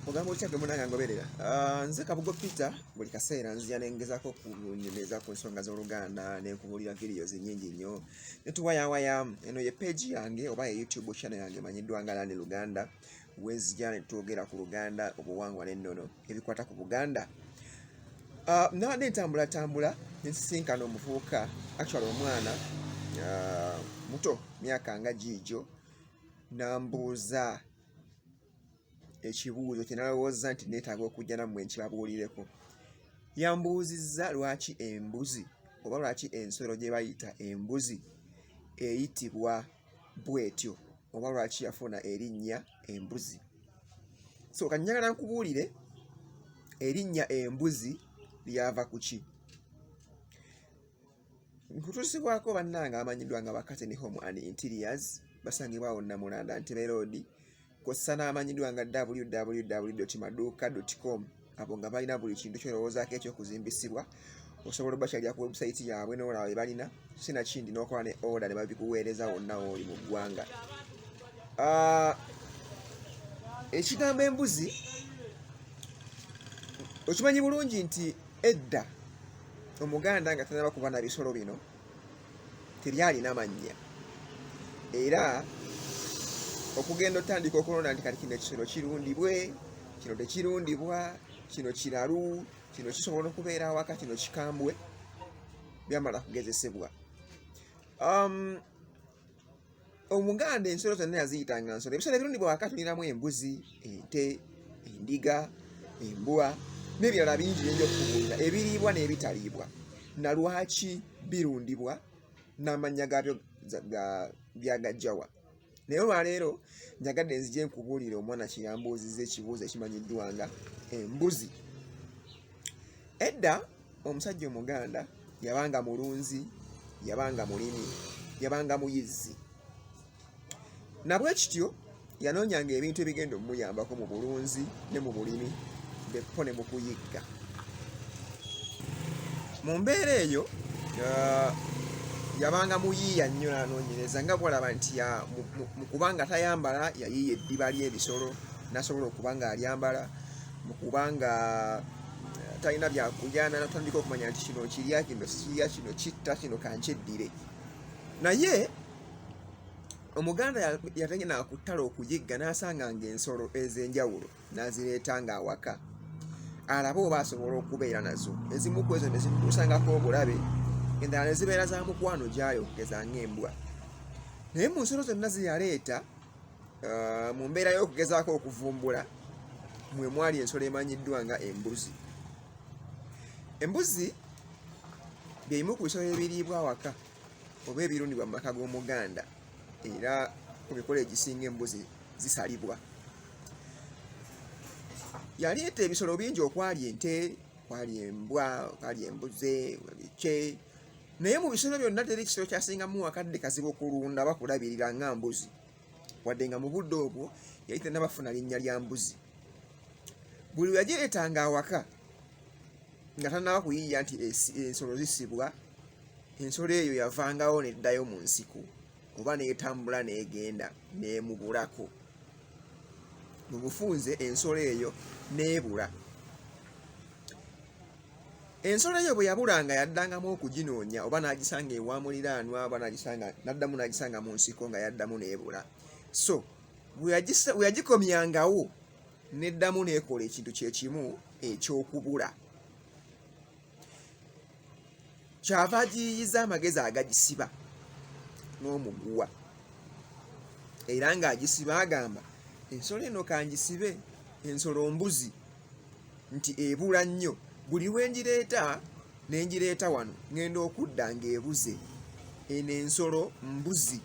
Ogamba otya gwe munanga ngoberera? Uh, nze Kabugo Peter buli kaseera nzija ne ngezako kunyumiriza ku nsonga z'Oluganda ne nkubulira videos nyingi nnyo ne tuwayawaya. Eno ye page yange oba ye YouTube channel yange emanyiddwa nga Lani Luganda wenzija ne twogera ku Luganda, obuwangwa n'ennono ebikwata ku Buganda. Uh, nabadde ntambulatambula ne nsisinkana omuvubuka actually omwana uh, muto myaka nga giigyo nambuuza ekibuuzo kye nalowooza nti neetaaga okujja nammwe nkibabuulireko yambuuzizza lwaki embuzi oba lwaki ensolo gye bayita embuzi eyitibwa bwetyo oba lwaki yafuna erinnya embuzi so kanyagala nkubuulire erinnya embuzi lyava ku ki nkutusibwako bannange abamanyiddwa nga bakateni home and interiors basangibwa awo namulanda ntebe roodi kossa n'amanyiddwa nga www maduuka com abo nga balina buli kintu kyolowoozaako ekyokuzimbisibwa osobola obakyalira ku webusayiti yaabwe nolaba bye balina sinakindi nokola ne oda ne babikuweereza wonna wooli mu ggwanga ah, ekigambo embuzi okimanyi bulungi nti Edda omuganda nga tanaba kuba na bisolo bino tebyalina mannya era okugenda otandika okulonda nti kati kino ekisolo kirundibwe kino tekirundibwa kino kiralu kino kisobola okubeera awaka kino kikambwe byamala kugezesebwa um, omuganda ensolo zonna yaziyitanga nsolo ebisolo ebirundi bwewakatuliramu embuzi ente endiga embwa n'ebirala bingi byinja okukubuulira ebiriibwa n'ebitaliibwa nalwaki birundibwa n'amannya gaabyo byagajjawa naye olwaleero njagadde nzija enkubuulire omwana kiyambuuziza ekibuuzo ekimanyiddwanga embuzi edda omusajja omuganda yabanga mulunzi yabanga mulimi yabanga muyizzi nabwe kityo yanoonyanga ebintu ebigenda omumuyambako mu bulunzi ne mu bulimi bekko ne mu kuyigga mu mbeera eyo uh, yabanga muyiiya nnyo nanoonyereza nga bwalaba nti mu kuba nga tayambala yayiiya eddiba ly'ebisolo nasobola okuba nga alyambala mukubanga eh, talina byakulyana natandika okumanya nti kino kirya kino sikirya kino kitta kino kankyeddire naye omuganda yatenge nakuttala okuyigga nasanga nga ensolo ezenjawulo nazireeta nga awaka alabe oba asobola okubeera nazo ezimu ku ezo nezimusangako obulabe endala nezibeera za mukwano gyayo ngeza ngaembwa naye mu nsolo zonna zeyaleeta mu mbeera y'okugezaako okuvumbula mwe mwali ensolo emanyiddwa nga embuzi embuzi byebimu ku bisolo ebiriibwa awaka oba ebirundibwa mu maka g'omuganda era ku mikolo egisinga embuzi zisalibwa yaleeta ebisolo bingi okwali ente kwali embwa kwali embuze bikye naye mu bisolo byonna teri kisolo kyasingamu wakadde kazibu okulunda bakulabirira nga mbuzi wadde nga mu budde obwo yali tenabafuna linnya lya mbuzi buli weyagireetanga awaka nga tanaba kuyiiya nti ensolo zisibwa ensolo eyo yavangawo neddayo mu nsiko oba netambula negenda nemubulako mu bufunze ensolo eyo nebula ensolo eyo bwe yabulanga yaddangamu okuginoonya oba n'agisanga ewa muliraanwa oba n'agisanga n'addamu n'agisanga mu nsiko nga yaddamu n'ebula so bwe yagikomyangawo n'eddamu n'ekola ekintu kye kimu eky'okubula kyava agiyiyiza amagezi agagisiba n'omuguwa era ng'agisiba agamba ensolo eno kangisibe ensolo mbuzi nti ebula nnyo buli lwe ngireeta ne ngireeta wano ngenda okudda ng'ebuze eno ensolo mbuzi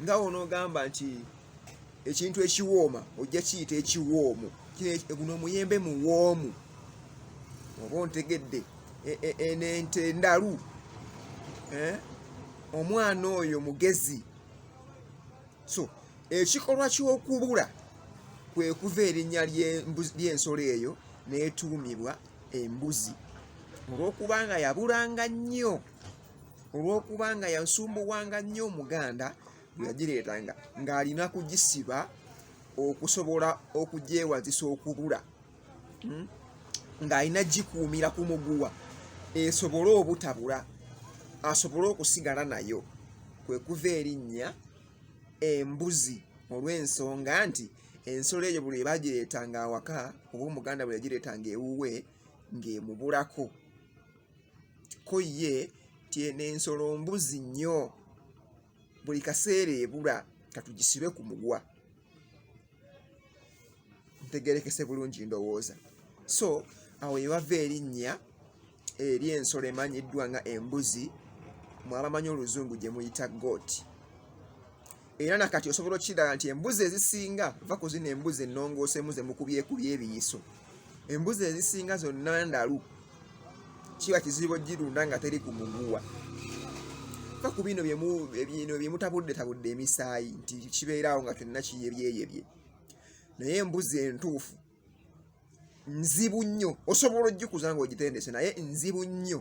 nga wonoogamba nti ekintu ekiwooma ojja kiyita ekiwoomu guno omuyembe muwoomu oba ontegedde e, e, eno ente ndalu eh? omwana oyo mugezi so ekikolwa ky'okubula kwe kuva erinnya ly'ensolo eyo n'etuumibwa embuzi olw'okuba nga yabulanga nnyo olw'okuba nga yansumbuwanga nnyo omuganda bwe yagireetanga ng'alina kugisiba okusobola okugyewazisa okubula hmm? ng'alina gikuumira ku muguwa esobole obutabula asobole okusigala nayo kwe kuva erinnya embuzi olw'ensonga nti ensolo eyo buli ebagireetanga awaka oba omuganda bwe yagireetanga ewuwe ng'emubulako ko ye tyena ensolo mbuzi nnyo buli kaseera ebula katugisibe ku mugwa ntegerekese bulungi ndowooza so awo yewava erinnya eri ensolo emanyiddwa nga embuzi mwabamanyi oluzungu gye muyita goat era nakati osobola okukiraba nti embuzi ezisinga va ku zino embuzi ennongooseemu ze mukubyekubya ebiyiso embuzi ezisinga zonna ndalu kiba kizibu ogirunda nga teri ku muguwa va ku bino bino byemutabuddetabude emisaayi nti kibeerawo nga kyonna kiyebyeyebye naye embuzi entuufu nzibu nnyo osobola ogikuza nga ogitendese naye nzibu nnyo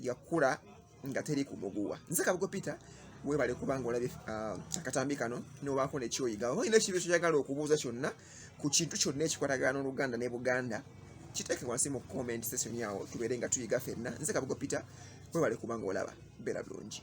yakula nga teri ku muguwa nze kabugo peter webale kubanga olabye uh, akatambi kano nobaako nekyoyiga oba olina ekibizo kyagala okubuuza kyonna ku kintu kyonna ekikwatagana n'oluganda ne buganda kiteeke wansi mu comment session yawo tubeere nga tuyiga fenna nze kabugo peter webale kubanga olaba beera bulungi